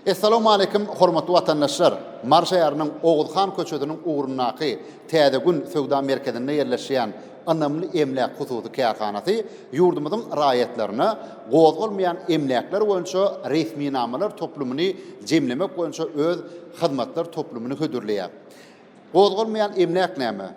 Essalamualeýkum hormatly watandaşlar! Mary şäheriniň Oguzhan köçesiniň ugrundaky Täze gün söwda merkezinde ýerleşýän Ynamly emläk hususy kärhanasy ýurdumyzyň raýatlaryna gozgalmaýan emläkler boýunça resminamalar toplumyny jemlemek boýunça öz hyzmatlar toplumyny hödürleýär. Gozgalmaýan emläk näme?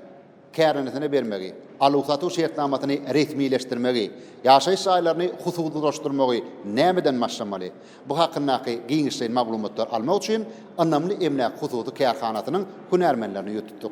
kärhanesine bermegi, aluw-satuw şertnamasyny resmileşdirmegi, ýaşaýyş jaýlaryny hususylaşdyrmagy nämeden başlamaly? Bu hakyndaky giňişleýin maglumatlar almak üçin Ynamly emläk hususy kärhanasynyň hünärmenlerini ýütüpdik.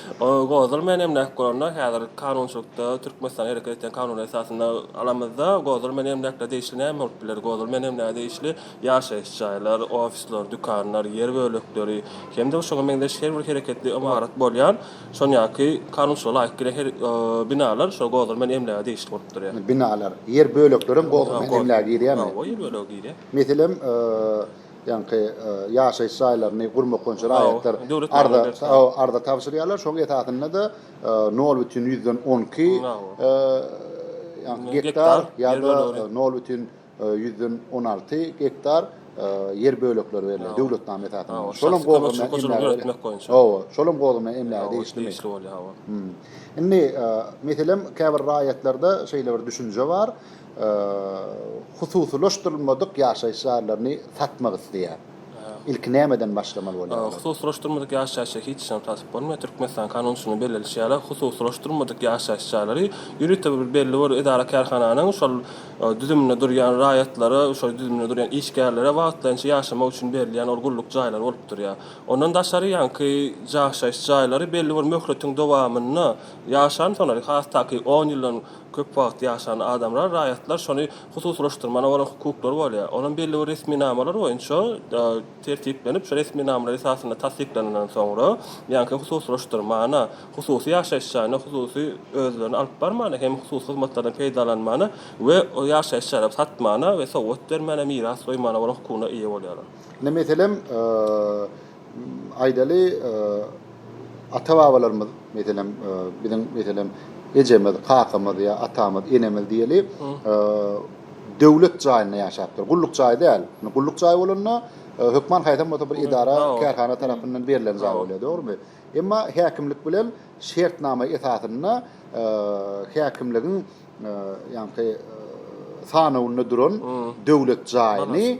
Gozul Menem näk bolanda, häzir kanunçylykda, Türkmenistanda hereket edýän kanunyň esasynda aramyzda Gozul Menem näkle degişli näme bolup biler? Gozul Menem näge degişli ýaşaýyş jaýlar, ofisler, dükanlar, ýer bölekleri hem-de şoňa meňzeş her bir hereketli ymarat bolýan şonýanki kanunçylyga laýyk gelen her binalar şol Gozul Men emläge degişli bolup durýar. Binalar, ýer böleklerem Gozul Men emläge girýärmi? Hawa, ýer bölegi girýär. Meselem, ýaňky ýaşaýyş jaýlaryny gurmak boýunça raýatlar arza tabşyrýarlar. Şonuň esasynda-da nol bütin ýüzden on iki gektar ýa-da nol bütin ýüzden on alty gektar ýer bölekleri berilýär döwletnama esasynda. Şolam gowy hem emläge degişlimi? Indi, meselem, käbir raýatlarda şeýle bir düşünje bar. Hususylaşdyrylmadyk ýaşaýyş jaýlaryny satmak isleýär. Ilki nämeden başlamaly bolýar olar? Hususylaşdyrmadyk ýaşaýyş jaýy hiç haçan satyp bolmaýar. Türkmenistanyň kanunçylygynyň bellenişi ýaly, hususylaşdyrmadyk ýaşaýyş jaýlary ýörite bir belli bir edara-kärhananyň şol düzüminde durýan raýatlara, şol düzüminde durýan işgärlere wagtlaýynça ýaşamak üçin berilýän ol gulluk jaýlary bolup durýar. Ondan daşary ýaňky ýaşaýyş jaýlary belli bir möhletiň dowamynda ýaşan, soňra has takyk on ýyldan, Köp wagt ýaşan adamlar, raýatlar şony hususylaşdyrmana bolan hukuklary bolýar. Olam belli bir resminamalar boýunça tertiplenip, şu resminamalar esasynda tassyklanandan soňra, ýaňky hususylaşdyrmana, hususy ýaşaýyş jaýyna, hususy özlerini alyp barmana hem hususy hyzmatlardan peýdalanmana we o ýaşaýyş jaýlary satmana we sowgat bermäne, miras goýmana bolan hukugyna eýe bolýarlar. Indi meselem, Aýdaly, ata-babalarymyz, meselem, biziň, meselem, ejemiz, kakamyz ýa atamyz, enemiz diýeli, döwlet jaýynda ýaşapdyr. Gulluk jaýy däl. Indi gulluk jaýy bolanda, hökman haýsam bolsa bir edara, kärhana tarapyndan berlen jaý bolýar, dogrumy? Emma häkimlik bilen şertnama esasynda häkimligiň, ýaňky, sanawynda duran döwlet jaýyny,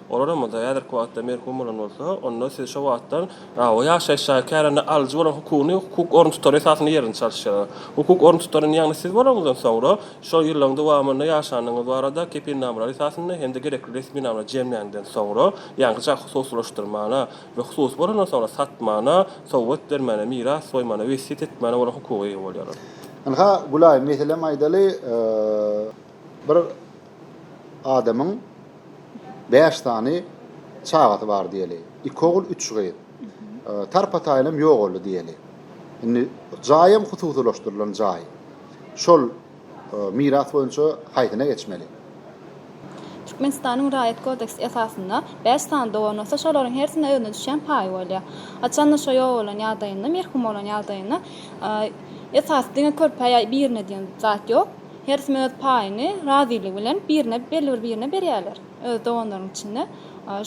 Olar hem bolsa häzirki wagtda merhum bolan bolsa, onda siz şo wagtdan aw, ýaşaýyş jaýy kärende alyjy bolan hukugyny hukuk orun tutary esasynda ýerini çalyşýarlar. Hukuk orun tutaryny, ýagny siz bolanyňyzdan soňra şol ýyllaryň dowamynda ýaşanyňyz barada kepilnamalar esasynda hem-de gerekli resminamany jemläniňden soňra, ýaňkyja hususylaşdyrmana we hususy bolandan soňra satmana, sowgat bermäne, miras goýmana, wesýet etmäne bolan hukuga eýe bolýarlar. Ynha, Gülaý, meselem aýdaly, bir adamyň bäş sany çagasy bar diýeli. Iki ogul, üç gyz. Tarpa-taýynam ýogaldy diýeli. Indi jaýam hususylaşdyrylan jaý. Şol miras boýunça haýsyna geçmeli? Türkmenistanyň Raýat kodeksi esasynda bäş sany dogan bolsa, şolaryň hersine özüne düşýän paýy bolýar. Haçanda şo ýok bolan ýagdaýynda, merhum bolan ýagdaýynda esasy diňe körpä ýa birine diýen zat ýok. Her kim öz paýyny razylygy bilen birine belli bir birine berýärler. Öz doganlaryň içinde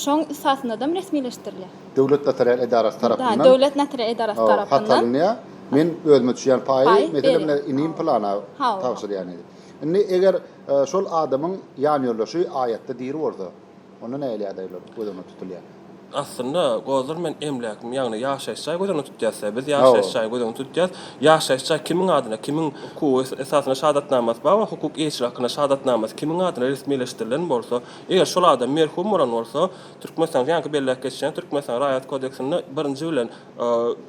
şoň ysasyndadam resmileşdirilýär. Döwlet notarial edarasy tarapyndan. Döwlet notarial edarasy tarapyndan. Hat alynýar. Men özüme düşýän paýy, meselem, men inim pylana tabşyrýan. Indi eger şol adamyň ýanýoldaşy aýatda diri bolsa. Onda nähili ýagdaýlar göz öňünde tutulýar? Aslynda, Gozdur men emläkmi, ýagny ýaşaýyş jaý göz öňünde tutýas-da. Biz ýaşaýyş jaýy göz öňünde tutýas. Ýaşaýyş jaý kimiň adyna, kimiň hukugy esasynda şahadatnamasy bar we hukuk eýeçiligi hakynda şahadatnamasy kimiň adyna resmileşdirilen bolsa, eger şol adam merhum bolan bolsa, Türkmenistanyň ýaňky belläp geçen Türkmenistanyň Raýat kodeksinde birinji bilen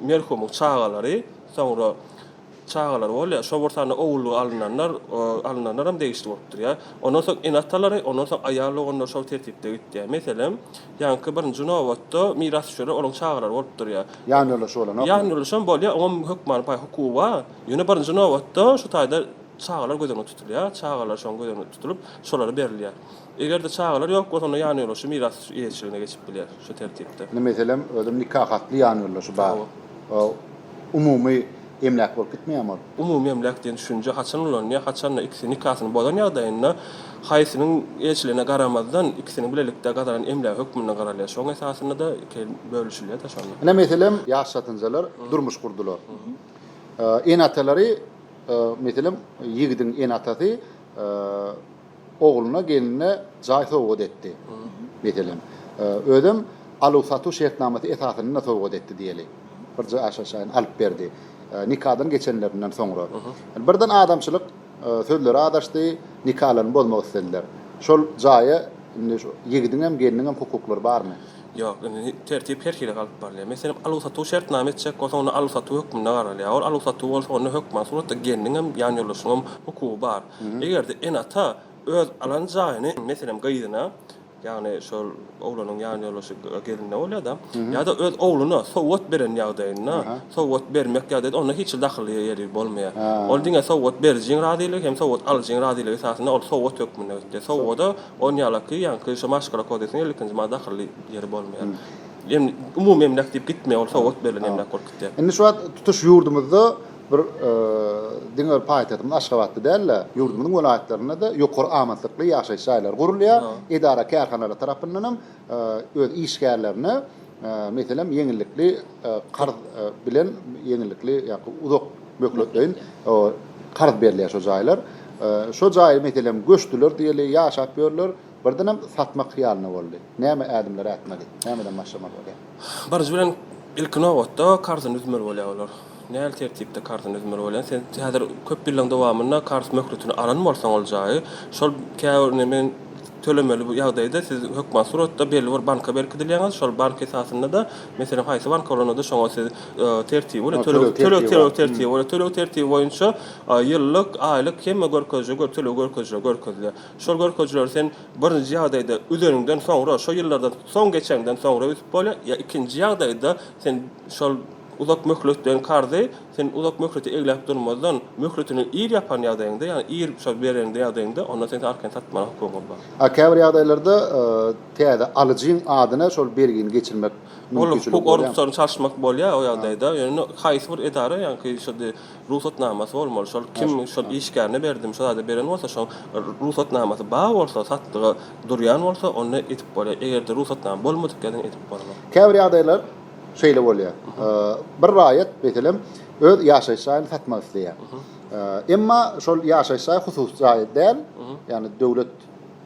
merhumyň çagalary, soňra, Çagalar bolýar. Şol bir sany ogullyga alynanlar, alynanlaram degişli bolup durýar. Ondan soň ene-atalary, ondan soň aýal doganlary şol tertipde gitýär. Meselem, ýaňky birinji nobatda mirasdüşerler olaryň çagalary bolup durýar. Ýanýoldaşy bolanokmy? Ýanýoldaşam bolýar, oňam hökmany paý hukugy bar. Ýöne birinji nobatda şu taýda çagalar göz öňünde tutulýar. Çagalar şoň göz öňünde tutulyp, şolara berilýär. Eger-de çagalar ýok bolsa, onda ýanýoldaşy miras eýeçiligine geçip bilýär şu tertipde. Indi meselem, özüm nika hatly ýanýoldaşy bar. Umumy emläk bolup gitmeýärmi ol? Umumy emläk diýen düşünje haçan ulanylýar? Haçanda ikisi nikasyny bozan ýagdaýynda haýsynyň eýeçiligine garamazdan, ikisiniň bilelikde gazanan emlägi hökmünde garalýar. Şoň esasynda-da iki el bölüşilýär daş onda. Ine meselem, ýaş satynjalar durmuş gurdular. Ene-atalary, meselem, ýigidiň ene-atasy, ogluna, gelnine jaý sowgat etdi, meselem, özem aluw-satuw şertnamasy esasynda sowgat etdi diýeli, bir jaýşaýşaýyny alyp berdi, nikadan geçenlerinden soňra. Birden adamçylyk sözleri azaşdy, nikalaryny bozmak islediler. Şol jaýa indi şu ýigidiňem, gelniňem hukuklary barmy? Ýok, indi tertip her hili galyp barylýar. Meselem, aluw-satuw şertnama etjek bolsa, onda aluw-satuw hökmünde garalýar. Ol aluw-satuw bolsa, onda hökman suratda gelniňem, ýanýoldaşyňam hukugy bar. Eger-de ene-ata öz alan jaýyny, meselem, gyzyna, ýagny şol oglanyň ýanýoldaşy gelinine bolýar-da, ýa-da öz ogluna sowgat beren ýagdaýynda, sowgat bermek ýa-da onda hiç hili dahylly ýeri bolmaýar. Ol diňe sowgat berijiň razylygy hem sowgat alyjyň razylygy esasynda ol sowgat hökmünde gitdi. Sowgada on ýalaky, ýaňky şu Maşgala kodeksiniň elli ikinji maddy dahylly ýeri bolmaýar. Em umumy emläk diýip gitmeýär, ol sowgat berilen emläk bolup gitýär. Indi şu wagt tutuş ýurdumyzda Bir diňe bir paýtagtymyz Aşgabatda däl-de, ýurdumyzyň welaýatlarynda-da ýokary amatlykly ýaşaýyş jaýlary gurulýar. Edara-kärhanalar tarapyndan hem öz işgärlerine, meselem, ýeňillikli karz bilen, ýeňillikli ýa-da uzak möhletleýin karz berilýär şo jaýlar. Şo jaýy, meselem, göçdüler diýeli, ýaşap ýörler, birdenem satmak hyýalynda boldy. Näme ädimler ätmeli? Nämeden başlamaly bolýar? Birinji bilen, ilki nobatda, karzyny üzmeli bolýar olar. Nähili tertipde karzyny üzmeli bolýan? Sen häzir köp ýyllaryň dowamynda karz möhletini alan bolsaň ol jaýy, şol käbir indi men tölemeli bu ýagdaýda siz hökman suratda belli bir banka berkidilýäňiz, şol bank esasynda-da, meselem, haýsy bank bolanda-da şoňa siz tertibi bilen töleg töleg töleg tertibi bolar. Töleg tertibi boýunça ýyllyk, aýlyk hemme görkezijä gör töleg görkezijiler görkezilýär. Şol görkezijileri sen birinji ýagdaýda üzeniňden soňra, şo ýyllardan soň geçeňden soňra üzüp bolýar, ýa ikinji ýagdaýda sen şol Uzak möhletleýin karzy sen uzak möhlete egläp durmazdan, möhletini ir ýapan ýagdaýyňda, ýagny ir şol bereňde ýagdaýyňda, onda sen arkany satmaga hukugyň bar. A käbir ýagdaýlarda täze alyjyň adyna şol bergini geçirmek mümkinçiligi bolýarmy? Ol hukuk oruntusaryny çalyşmak bolýar o ýagdaýda. Ýöne haýsy bir edara ýaňky şody rugsatnamasy bolmaly. Şol kim şol işgärine berdimi, şol zady beren bolsa, şoň rugsatnamasy bar bolsa, satlyga durýan bolsa, onda edip bolýar. Eger-de rugsatnama bolmadyk ýadan edip bolmaz. Käbir ýagdaýlar. şeýle bolýar. Bir raýat, meselem, öz ýaşaýyş jaýyny satmak isleýär. Emma şol ýaşaýyş jaýy hususy jaý däl, ýagny döwlet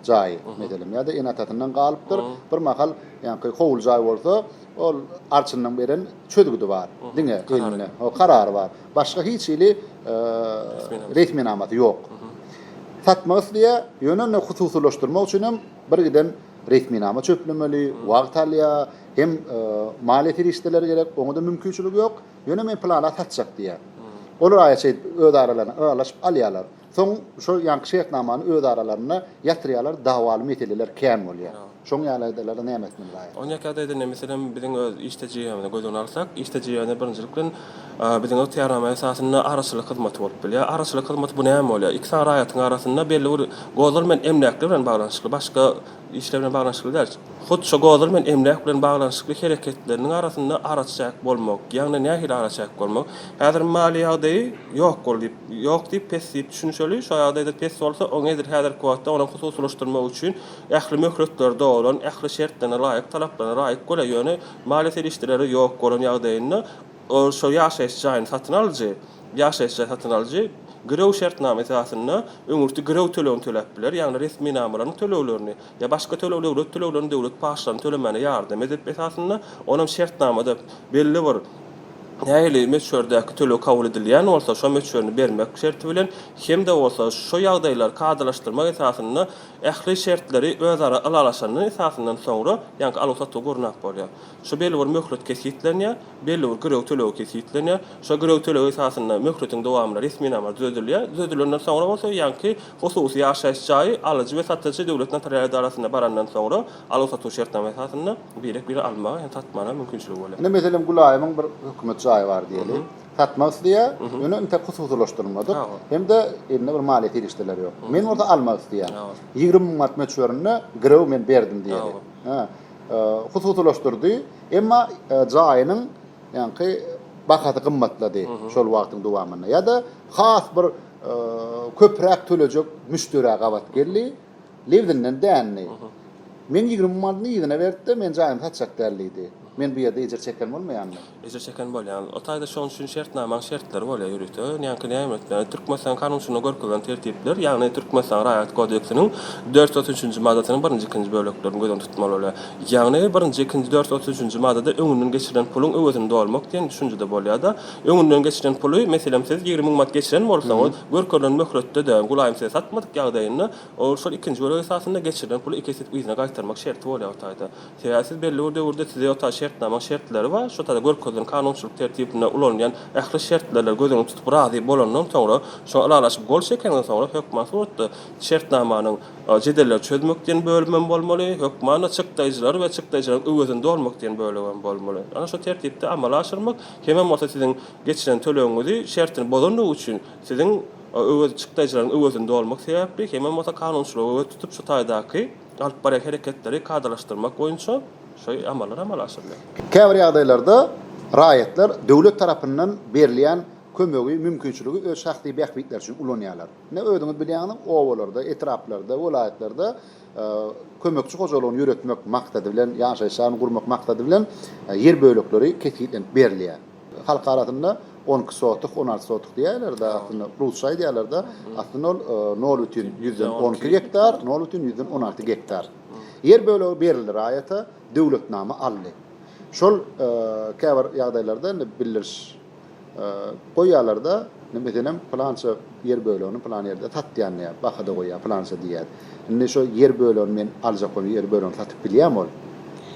jaýy, meselem, ýa-da ene-atasyndan galypdyr. Bir mahal, ýagny howly jaý bolsa, ol arçynyň beren çözgüdi bar, diňe elinde, ho, karary bar. Başga hiç hili resminamasy ýok. Satmak isleýär, ýöne indi hususylaşdyrmak üçin hem birgiden resminama çöplemeli, wagt alýar. Hem maliýe serişdeleri gerek, oňa-da mümkinçilik ýok. Ýöne men plana satjak diýýär. Olar aýa şeýt öz aralarynda ylalaşyp alýarlar. Soň şo ýanky şertnamany öz aralarynda ýatyrýarlar, dawaly meseleler kän bolýar. Şoň ýaly ýagdaýlarda näme etmeli raýat? Oň ýaky ýagdaýda indi meselem biziň öz iş tejribemizi göz öňüne alsak, iş tejribemizde birinjilik bilen biziň ygtyýarnama esasynda araçylyk hyzmaty bolup bilýär. Araçylyk hyzmaty bu näme bolýar? Iki sany raýatyň arasynda belli bir gozul bilen emläkler bilen baglanyşykly başga işler bilen baglanyşykly däl. Hut şo godur bilen emläk bilen baglanyşykly hereketleriniň arasynda araçäk bolmak, ýagny nähili araçäk bolmak? Häzir maliýe ýagdaýy ýok bol diýip, ýok diýip pes diýip düşünişeli, şo ýagdaýda pes bolsa, oňa edil häzirki wagtda onuň hususylaşdyrmak üçin ähli möhletleri dolan, ähli şertlerine laýyk, talaplaryna laýyk bole, ýöne maliýe serişdeleri ýok bolan ýagdaýynda, Onsoň ýaşaýyş jaýyny satyn alyjy, ýaşaýyş jaý satyn alyjy girew şertnama esasynda öňürti girew tölegini töläp biler, ýagny resminamalaryň töleglerini ýa başga töleg döwlet töleglerini döwlet paçlaryny tölemäne ýardam edip esasynda onam şertnamada belli bir nähili möçberdäki töleg kabul edilýän bolsa şo möçberini bermek şerti bilen hem-de bolsa şu ýagdaýlar kadalaşdyrmak esasynda ähli şertleri özara ylalaşanyň esasyndan soňra ýaňky aluw-satuw gurnap bolýar. Şu bellibir möhlet kesgitlenýär, bellibir girew tölegi kesgitlenýär. Şo girew tölegi esasynda möhletiň dowamynda resminama düzedilýär. Düzedilenden soňra bolsa ýaňky hususy ýaşaýyş jaýy alyjy we satyjy döwlet notarial edarasyna barandan soňra aluw-satuw şertnama esasynda birek-bire almaga hem satmaga mümkinçiligi bolýar. Ine, meselem, Gulaýymyň bir hökümet jaýy bar diýeli. Satmak isleýär, ýöne intek hususylaşdyrylmadyk hem-de elinde bir maliýe serişdeleri ýok. Men bolsa almak isleýän. Ýigrimi müň manat möçberinde girew men berdim diýeli. hususylaşdyrdy, emma jaýynyň ýaňky bahasy gymmatlady şol wagtyň dowamynda ýa-da has bir köpräk tölejek müşderä gabat geldi, lebzinden dändi. Men ýigrimi manyny yzyna berip-de, men jaýymy satjak däl diýdi. Men bu ýerde ejir çeken bolmaýanmy? Ejir çeken bolýan. O taýda şoň üçin şertnamaň şertleri bolýar ýörite. Ýaňky näme etmeli? Türkmenistanyň Kanunçylygyna görkezilen tertipler, ýagny Türkmenistanyň Raýat kodeksiniň dört ýüz otuz üçünji maddasynyň birinji, ikinji böleklerini göz öňünde tutmaly bolýar. Ýagny birinji, ikinji, dört ýüz otuz üçünji maddada öňünden geçirilen puluň öwezini dolmak diýen düşünjede bolýar-da, öňünden geçirilen puly, meselem, siz ýigrimi müň manat geçiren bolsaňyz, görkezilen möhletde-de, gulaýym size satmadyk ýagdaýynda, ol şol ikinji bölek esasynda geçirilen puly iki esse yzyna gaýtarmak şerti bolýar o taýda. Eger siz belli bir döwürde size ýota şertnama şertleri we şu tada görkezilen kanunçylyk tertibinde ulanylýan ähli şertlerler göz öňünde tutup razy bolandan soňra şoňa ylalaşyp gol çekenizden soňra hökman suratda şertnamanyň jedelleri çözmek diýen bölümem bolmaly hökmanda çykdaýjylary we çykdaýjylaryň öwezini dolmak diýen bölegem bolmaly ana şu tertipde amala aşyrmak hemem bolsa siziň geçiren tölegiňizi şertini bozandygy üçin siziň öwez çykdaýjylaryň öwezini dolmak sebäpli hemem bolsa kanunçylyga göz tutup şu taýdaky alyp barýan hereketleri kadalaşdyrmak boýunça şu amallar amala aşyrylýar. Käbir ýagdaýlarda raýatlar döwlet tarapyndan berilýän kömegi, mümkinçiligi öz şahsy bähbitleri üçin ulanýarlar. Ine, özüňiz bilýäňiz, obalarda, etraplarda, welaýatlarda kömekçi hojalygyny ýöretmek maksady bilen, ýaşaýyş jaýyny gurmak maksady bilen ýer bölekleri kesgitlenip berilýär. Halk arasynda on iki sotuh, on alty sotuh diýerler-de, aslynda rusça aýdýarlar-da, aslynda ol nol bütin ýüzden on iki gektar, nol bütin ýüzden on alty gektar. Ýer bölegi berildi raýata, döwletnama aldy. Şol käbir ýagdaýlarda indi bildiriş goýýarlar-da, meselem, pylança, Ýer bölegini pylan ýerde satýan diýýär, bahada goýýar, pylança diýýär. Indi şo ýer bölegini men aljak bolsam, ýer bölegini satyp bilýärmi ol?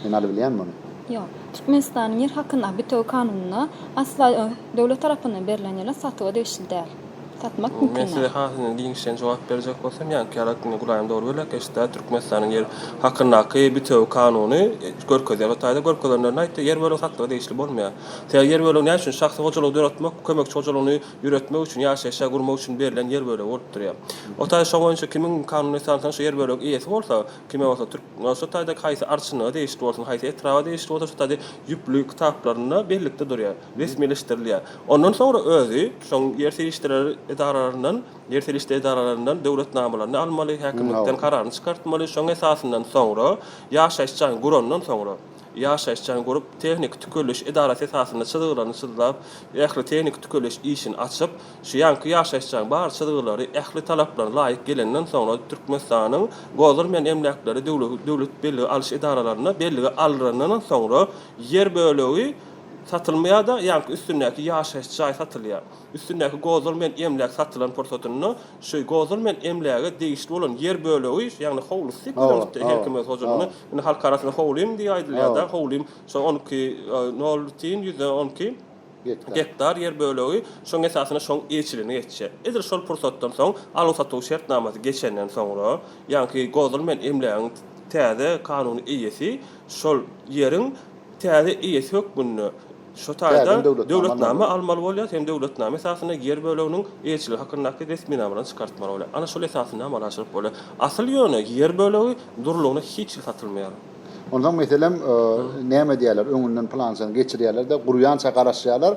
Men alybilýärmi ony? Ýok. Türkmenistanyň ýer hakyndaky bitewi kanunynda asla döwlet tarapyndan berlen ýerler satuwa degişli däl. Satmak mümkin däl. Men size hasynyň giňişleýin jogap berjek bolsam, ýaňky ýaly aýtdyňyz, gulaýyň dogry bölek eşitdä, Türkmenistanyň ýer hakyndaky bitewi kanuny görkezýär. O taýda görkezenlerinde aýtdy, ýer bölegi satlyga degişli bolmaýar. Sebäbi ýer bölegini näme üçin şahsy hojalygy döretmek, kömekçi hojalygyny Ýöretmek üçin, ýaşaýşa gurmak üçin berlen ýer bölegi bolup durýar. O taý şo boýunça kimiň kanuny esansdan şu ýer bölegi eýesi bolsa, kime bolsa türk, şo taýda haýsy arçynlyga degişli bolsun, haýsy etraba degişli bolsa şo taýda ýüpli kitaplarynda bellikde durýar, resmileşdirilýär. Ondan soňra özi şoň ýer serişdeler edaralaryndan, ýer serişde edaralaryndan döwlet namalaryny almaly, häkimlikden kararyny çykartmaly, şoň esasyndan soňra ýaşaýyş jaýyny gurandan soňra, ýaşaýyş jaýyny gurup, tehniki tükeliş edarasy esasynda çyzgylaryny çyzlap, ähli tehniki tükeliş işini açyp, şu ýanky ýaşaýyş jaýyň bar çyzgylary ähli talaplaryna laýyk gelenden soňra Türkmenistanyň Gozur men emläkleri döwlet bellige alyş edaralarynda bellige alrandan soňra ýer bölegi satylmaýar-da, ýanky üstündäki ýaşaýyş jaý satylýar. Üstündäki Gozur men emläk satylan pursatynda şu Gozur men emläge degişli bolan ýer bölegi, ýagny howlusy, göreniňizde, her kim öz hojalygyny, Indi halk arasynda howlym diýip aýdylýar-da, howlym şo on iki nol tiýin ýüzden on iki gektar ýer bölegi, şoň esasynda şoň eýeçiligine geçýär. Edil şol pursatdan soň, aluw-satuw şertnamasy geçenden soňra, ýaňky gozulmaýan emlägiň täze kanuny eýesi şol ýeriň täze eýesi hökmünde Şu taýda döwletnama almaly bolýar, hem döwletnama esasynda ýer böleginiň eýeçiligi hakyndaky resminamalaryny çykartmaly bolýar. Ana şol esasynda amala aşyryp bolýar. Asyl ýöne ýer bölegi durlugyna hiç hili satylmaýar. Onsoň meselem näme edýärler, öňünden plançany geçirýärler-de, gurýança garaşýarlar,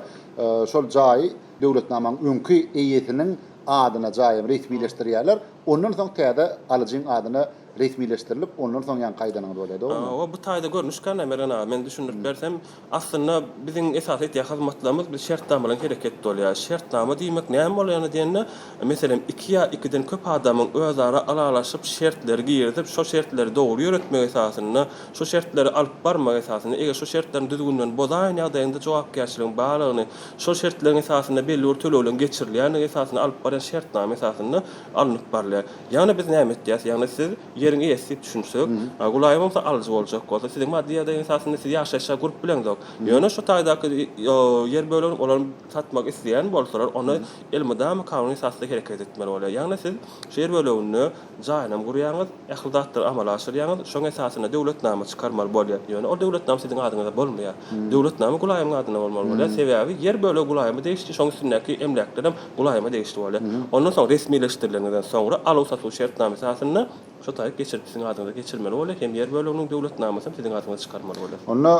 şol jaýy döwletnamanyň öňki eýesiniň adyna jaýy resmileşdirýärler, ondan soň täze alyjyň adyna resmileşdirilip, ondan soň ýaňky aýdanyňyz bolýar, dogrumy? Hawa, bu taýda görnüş kän-ä, Mergen aga, men düşündirip bersem, Aslynda biziň esasy etýän hyzmatlarymyz biz şertnama bilen hereket bolýar. Şertnama diýmek näme bol ýany diýende, meselem, iki ýa ikiden köp adamyň özara ylalaşyp, şertleri girizip, şo şertleri dogry ýöretmegi esasynda, şo şertleri alyp barmagy esasynda, eger şo şertleriň düzgünlerini bozaýan ýagdaýynda jogapkärçiligiň barlygyny, şo şertleriň esasynda belli bir tölegleriň geçirilýändigi esasynda alyp barýan şertnama esasynda alnyp barylýar. Ýagny biz näme etýäs? Ýagny siz. Ýeriň eýesi diýip düşünsek, Gulaýyň bolsa alyjy boljak bolsa, siziň maddy ýagdaýyň esasynda siz ýaşaýşa gurup bileňzok. Ýöne şu taýdaky ýer bölegini olar satmak isleýän bolsalar, onda elmydama kanuny esasda hereket etmeli bolýar. Ýagny siz şu ýer böleginde jaýynam gurýaňyz, ähli zatlary amala aşyrýaňyz, şoň esasynda döwletnama çykarmaly bolýar. Ýöne ol döwletnama siziň adyňyza bolmaýar. Döwletnama Gulaýyň adyna bolmaly bolýar. Sebäbi ýer bölegi Gulaýyma degişli, şoň üstündäki emläklerem Gulaýyma degişli bolýar. Ondan soň resmileşdirileniňizden soňra aluw-satuw şertnama esasynda şu taýy geçirip siziň adyňyza geçirmeli bolýar hem ýer böleginiň döwletnamasyny siziň adyňyza çykarmaly bolýar. Onda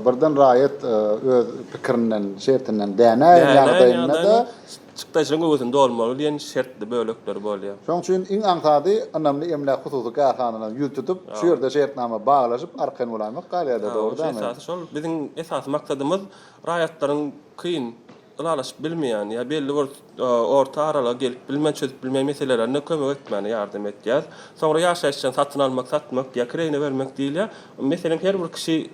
birden raýat öz pikirinden, şertinden dänäýen ýagdaýynda-da. Çykdajynyň göwüsini dolmaly diýen şertli bölekleri bolýar. Şonuň üçin iň aňsady ynamly emläk hususy kärhanalaryň ýüz tutup, şu ýerde şertnama baglaşyp arkaýyn bolaýmak galýar-da, dogry dälmi? Esasy şol. Biziň esasy maksadymyz raýatlaryň kyn, ylalaşyp bilmeýän ýa belli bir orta aralyga gelip bilmän, çözüp bilmeýän meselelerinde kömek etmäne ýardam edýär. Soňra ýaşaýyş jaýyny satyn almak, satmak ýa kireýine bermek diýilýär. Meselem, her bir kişi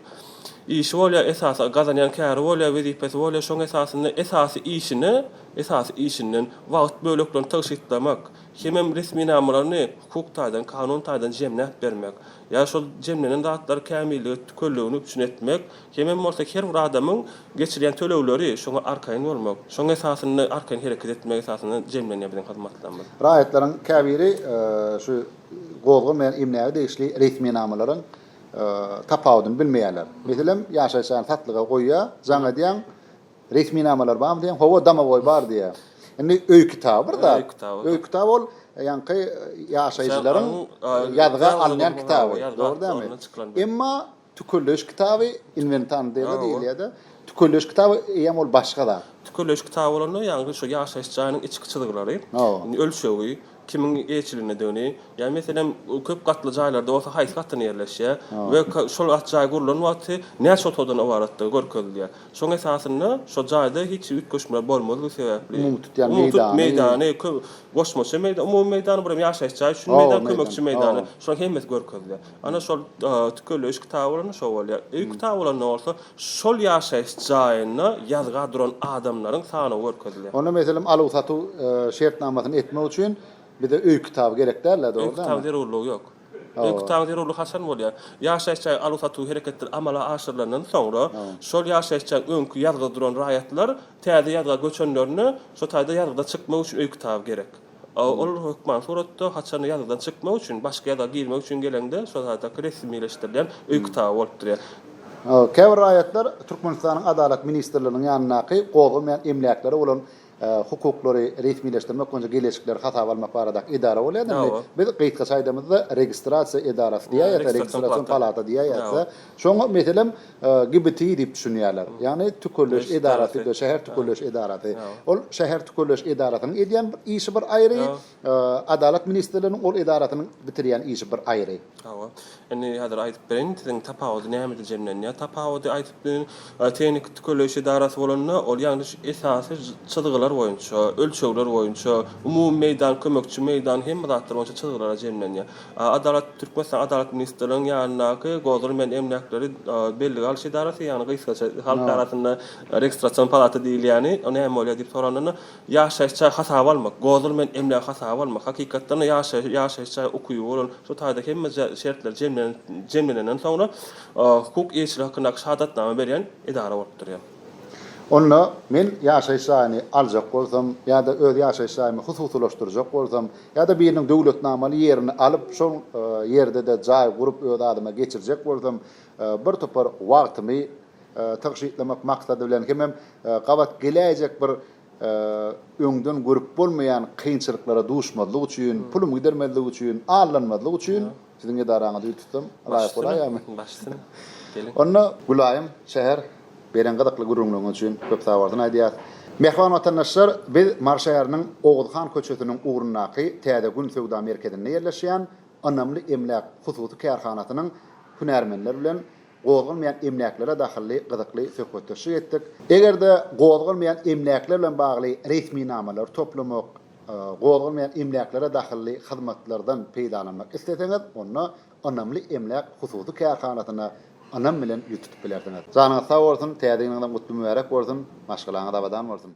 işi bolýar, esasy gazanýan käri bolýar, wezipesi bolýar, şoň esasynda esasy işine, esasy işinden wagt böleklerini tygşytlamak, hemem resminamalaryny hukuk taýdan, kanun taýdan jemläp bermek ýa şol jemlenen zatlary kämillige, tükelligini üpjün etmek Hemem bolsa her bir adamyň geçirýän tölegleri şoňa arkaýyn bolmak, şoň esasynda arkaýyn hereket etmek esasynda jemlenýär biziň hyzmatlarymyz. Raýatlaryň käbiri şu gozgan bilen emläge degişli resminamalaryň tapawudyny bilmeýärler. Meselem, ýaşaýşany satlyga goýýar, jaň edýäň, resminamalar barmy diýýäň, hawa, domowoý bar diýýär. Indi öý kitaby bir zat. Öý kitaby. Öý kitaby ol ýaňky ýaşaýjylaryň ýazga alynýan kitaby, dogry dälmi? Emma Tükelleýiş kitaby inwentarny däl-de diýilýär-de. Tükelleýiş kitaby eýýäm ol başga zat. Tükelleýiş kitaby bolanda, ýagny şu ýaşaýyş jaýynyň içki çyzgylary, ölçegi, kimiň eýeçilindedigini, ýa meselem, köp gatly jaýlarda bolsa haýsy gatynda ýerleşýär we şol jaý gurlan wagty näçe otagdan ybaratdygy görkezilýär. Şoň esasynda şo jaýda hiç üýtgeşmeler bolmazlygy sebäpli, umumy tutýan meýdany, goşmaça meýdan, umumy meýdan, bir hem ýaşaýyş jaý üçin meýdan, kömekçi meýdany, şolaryň hemmesi görkezilýär. Ana şol tükelleýiş kitaby bolanda şo bolýar. Öý kitaby bolanda bolsa şol ýaşaýyş jaýynda ýazga duran adamlaryň sanawy görkezilýär. Onda meselem aluw-satuw şertnamasyny etmek üçin bize öý kitaby gerek däl-ä, dogry dälmi? Öý kitabynyň zerurlygy ýok. Öý kitabynyň zerurlygy haçan bolýar? Ýaşaýyş jaýy aluw-satuw hereketleri amala aşyrylandan soňra, şol ýaşaýyş jaýyň öňki ýazga duran raýatlar täze ýazga göçenlerinde şo taýda ýazgyda çykmak üçin öý kitaby gerek. Ol hökman suratda haçanda ýazgydan çykmak üçin, başga ýazga girmek üçin geleňde şol zatda resmileşdirilýän öý kitaby bolup durýar. Käbir raýatlar Türkmenistanyň Adalat ministrliginiň ýanyndaky gozgamaýan emläklere bolan hukuklary resmileşdirmek boýunça geleşikleri hasaba almak baradaky edara bolýar. Indi biz gysgaça aýdamyzda registrasiýa edarasy diýýäs ýa-da registrasion palata diýýäs ýa-da. Şoňa meselem, GBTI diýip düşünýärler. Ýagny tükelleş edarasy, şäher tükelleş edarasy. Ol şäher tükelleş edarasynyň edýän bir işi bir aýry, Adalat ministrliginiň ol edarasynyň bitirýän işi bir aýry. Hawa. Indi häzir aýdyp bereýin, siziň tapawudy nämede jemlenýär? Tapawudy aýdyp bilerin, tehniki tükelleýiş edarasy bolanda, ol ýagny şu esasy çyzgylar boýunça, ölçegler boýunça, umumy meýdan, kömekçi meýdan, hemme zatlar boýunça çyzgylara jemlenýär. Adalat, Türkmenistan Adalat ministrliginiň ýanyndaky Gozulmaýan emläkleri bellige alyş edarasy, ýagny gysgaça halk arasynda registrasion palata diýilýäni, o näme bolýar diýip soralanda, ýaşaýyş jaý hasaba almak, gozulmaýan emlägi hasaba almak, hakykatdan-da ýaşaýyş jaý ukyby bolan, şu taýda hemme şertler jemlenenden soňra hukuk eýeçiligi hakyndaky şahadatnama berýän edara bolup durýar. Onda men ýaşaýyş jaýyny aljak bolsam ýa-da öz ýaşaýyş jaýymy hususylaşdyrjak bolsam ýa-da biriniň döwletnamaly ýerini alyp, şol ýerde-de jaý gurup öz adyma geçirjek bolsam, bir topar wagtymy tygşytlamak maksady bilen hemem gabat geläýjek bir öňden görüp bolmaýan kynçylyklara duşmazlyk üçin, pulum gidermezlik üçin, aldanmazlyk üçin, Siziň edaraňyzy ýüz tutsam, laýyk bolaýýarmy? Baş üstüne. Geliň. Onda, Gülaýym, şäher, beren gyzykly gürrüňleriňiz üçin köp sag bolsun aýdýarys. Mähriban watandaşlar, biz Mary şäheriniň Oguz han köçesiniň ugrundaky Täze gün söwda merkezinde ýerleşýän Ynamly emläk hususy kärhanasynyň hünärmenler bilen gozganmaýan emläklere dahylly gyzykly söhbetdeşlik etdik. Eger-de gozganmaýan emläkler bilen bagly resminamalary toplamak, gozganmaýan emläklere dahylly hyzmatlardan peýdalanmak isleseňiz, onda Ynamly emläk hususy kärhanasyna ynam bilen ýüz tutup bilersiňiz. Janyňyz sag bolsun, Täze ýylyňyz hem gutly-mübärek bolsun, maşgalaňyz abadan bolsun!